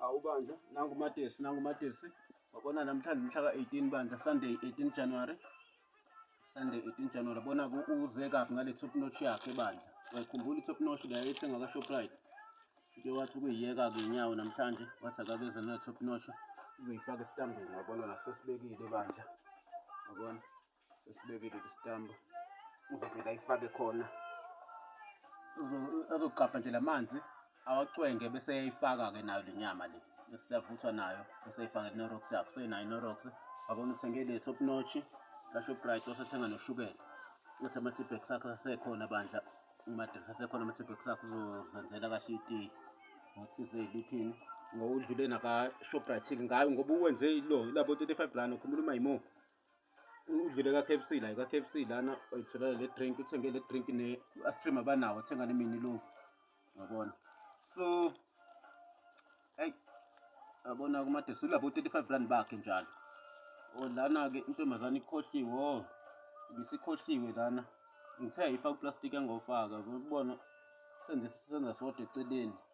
Awu bandla, nangu uMatesi, nangu uMatesi. Wabona namhlanje mhla ka-18 bandla, Sunday 18 January. Sunday 18 January. Bona uze kabi ngale top notch yakhe bandla. Uyakhumbula i-top notch le ayethenga ka-Shoprite. Nje wathi ukuyiyeka-ke inyawo namhlanje, wathi akabeze ne-top notch. Uzoyifaka esitambeni, wabona nasosibekile bandla. Wabona? sesibekile isitambu uzofika ifake khona azogcabha nje lamanzi awacwenge bese eyifaka ke nayo lenyama le bese siyavuthwa nayo bese eyifaka inorox yakho senayo inorox wabona uthenge le top notch la shoprite wasethenga noshukela uthi ama-tibek sakho asekhona bandla umadress asekhona ama-tibek sakho uzozenzela kahle itiyi ngothize eliphini ngowudlule nakashoprite ngayo ngoba uwenze lo labo 35 rand okhumula uma yimo udlule ka-KFC la ka-KFC lana oyitholele le drink uthenge le drink ne astream abanawo thenga ne mini loaf yabona so hey yabona kumade sulabo 35 rand bakhe njalo oh, lana ke intombazane ikhohliwe oh ibisikhohliwe lana ngithe ayifaka uplastic engofaka ukubona senze senza sodwa eceleni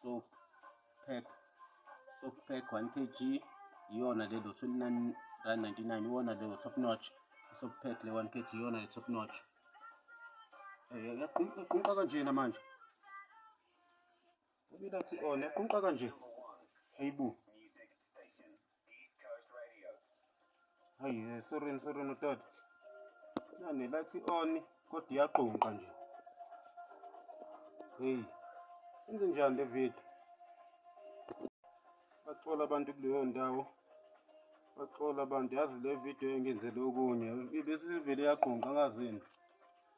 soap pack soap pack 1 kg iyona le lo 29 rand 99 iyona le top notch soap pack le 1 kg iyona le top notch eh yaqunqa kanjena manje ubila thi ona oh, yaqunqa kanje heyibu Hayi eh, sorry sorry mtata. Nani bathi on kodwa iyaqunqa nje. Hey. Inze njani le video? Baxola abantu kuleyo ndawo. Baxola abantu yazi le video engenzele okunye. Bese ivele yaqunqa ngazini.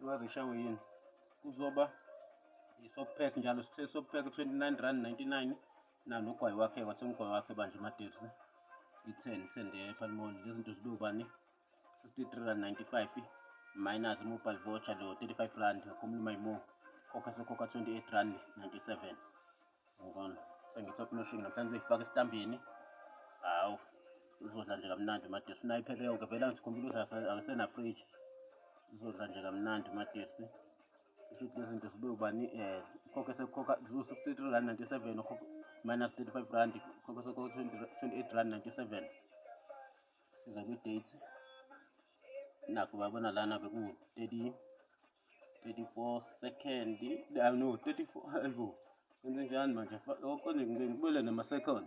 Ngaze ishawe yini? Kuzoba isopack njalo sithe sopack 29 rand 99. Nalo ugwayi wakhe wathenga ugwayi wakhe bandla ematekisi i-ten ten ephalimoli lezi zinto zibe ubani sixty-three rand ninety-five minus mobile voucher lo thirty-five rand akhumula mayimo khokha sekhokha twenty-eight rand ninety-seven ngibona sengi-top noshing namhlanje uyifaka esitambini hawu uzodla nje kamnandi umatesi funa iphele yonke vele angizikhumbula ukuthi akesenafridge uzodla nje kamnandi umatesi Shuthi lezi zinto zibe ubani um eh, ukhokhe sekukhokha ziwu-sixty-three rand ninety-seven minus thirty-five rand ukhokhe sekukhokha twenty-eight rand ninety-seven siza kwi-date nakho babona lana bekuwu-thirty thirty-four second ah, no thirty-four ayibo kwenze njani manje okone ngibuyele nama-second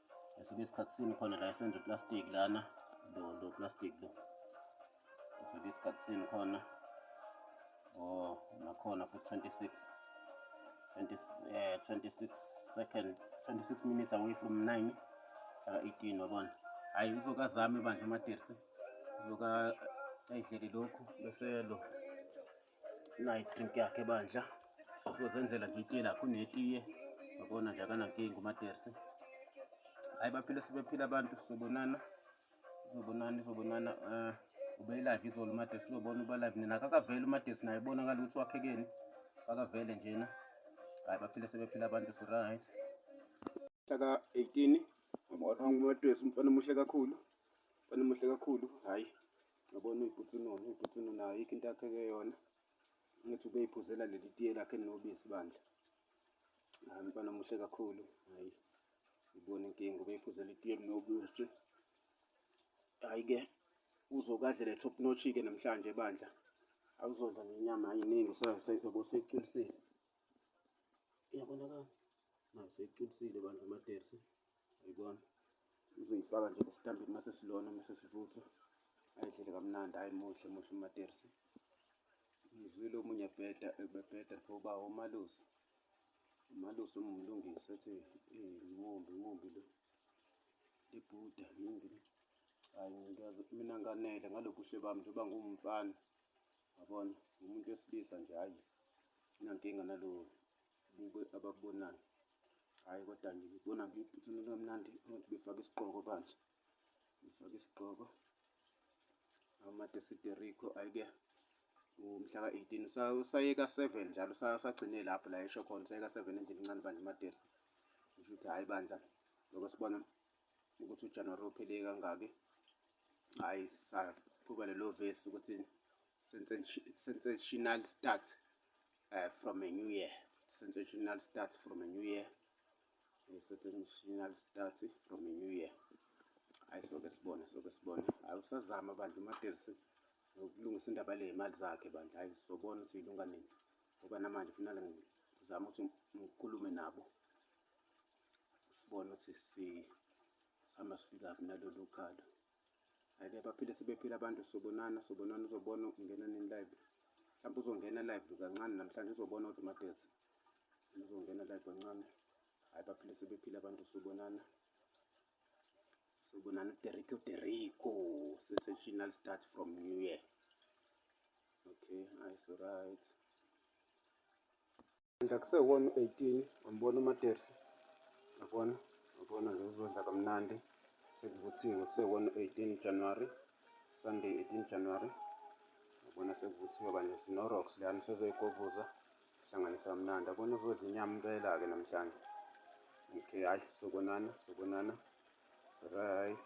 ngesinye isikhathi sini khona la esenza uplastic lana lo lo plastic lo ngesinye isikhathi sini khona o oh, nakhona futhi 26 20, eh, 26 second 26 minutes away from 9 hlaka 18 wabona hhayi uzokazame bandla amatersi uzoka ayidlele lokhu bese lo nayo idrink yakhe bandla uzozenzela nje itiye lakho unetiye yabona nje akanankinga umatersi hayi baphile sebephila abantu sizobonana sizobonana izobonana um eh, ubeyilive izolo umatersi uzobona uba live nina kakavele umatersi naye bonakala ukuthi wakhekeni kakavele njena hayi baphile sebephila abantu siright hlaka 18 umatersi umfana omuhle kakhulu umfana omuhle kakhulu hhayi Ngabona uyibhutsino, uyibhutsino nayo yikho into akheke yona. Ngithi ubeyiphuzela leli tiye lakhe elinobisi bandla. Hayi mfana muhle kakhulu. Hayi. Sibona inkinga ubeyiphuzela itiye elinobisi. Hayi ke uzokadlela top notch ke namhlanje bandla. Awuzodla nenyama yiningi sezobe seyiculisile. Iyabonakala. Nayo seyiculisile bandla amatersi. uyibona uzoyifaka nje esitambini mase silona mase sivuthwa ayidlele kamnandi hayi muhle muhle umatersi ngizwile omunye ebheda ebebheda pho uba umalusi umalusi umlungisi ethi imumbi imumbi lo ibhuda imumbi lo hayi ngiyazi mina nganele ngalobuhle bami njengoba ngumfana yabona umuntu wesilisa nje hayi inankinga nalowo Buke abakubonayo. Hhayi kodwa nje ngibona ngiyiphuthini kamnandi ukuthi befake isigqoko bandla. Ngifake isigqoko. Amade Siderico ayike umhla ka-18 usayeka 7 njalo usagcine lapho la esho khona usayeka 7 endlini incane bandla imatersi kusho ukuthi hhayi bandla lokho sibona ukuthi ujanuwari uphele kangaki hhayi saqhuba lelo vesi ukuthi sensational start uh, from a new year sensational start from a new year a sensational start from a new year hayi soke sibone soke sibone hayi usazama bandla umatersi nokulungisa indaba le yimali zakhe bandla hayi sobona ukuthi ilunga nini ngoba namanje funala ngizama ukuthi ngikhulume nabo sibone ukuthi sihamba sifika kuphi nalolu khalo Hayibe baphile sebephila abantu sobonana sobonana uzobona ungena nini live. Mhlawumbe uzongena live kancane namhlanje uzobona kodwa uMadezi. Uzongena live kancane. Hayi baphile sebephile abantu sobonana. Sobonana Derrico Derrico sensational start from New Year. Okay, nice right. Ngidla kusewona u-18 ngambona uMatersi. Yabona, yabona nje uzodla kamnandi. Sekuvuthiwe kusewona u-18 January. Sunday 18 January. Yabona sekuvuthiwe kanje sinoRox lana usezoyigovuza. Hlanganisa kamnandi. Yabona uzodla inyama impela-ke namhlanje. Okay, hayi sobonana, sobonana. It's right.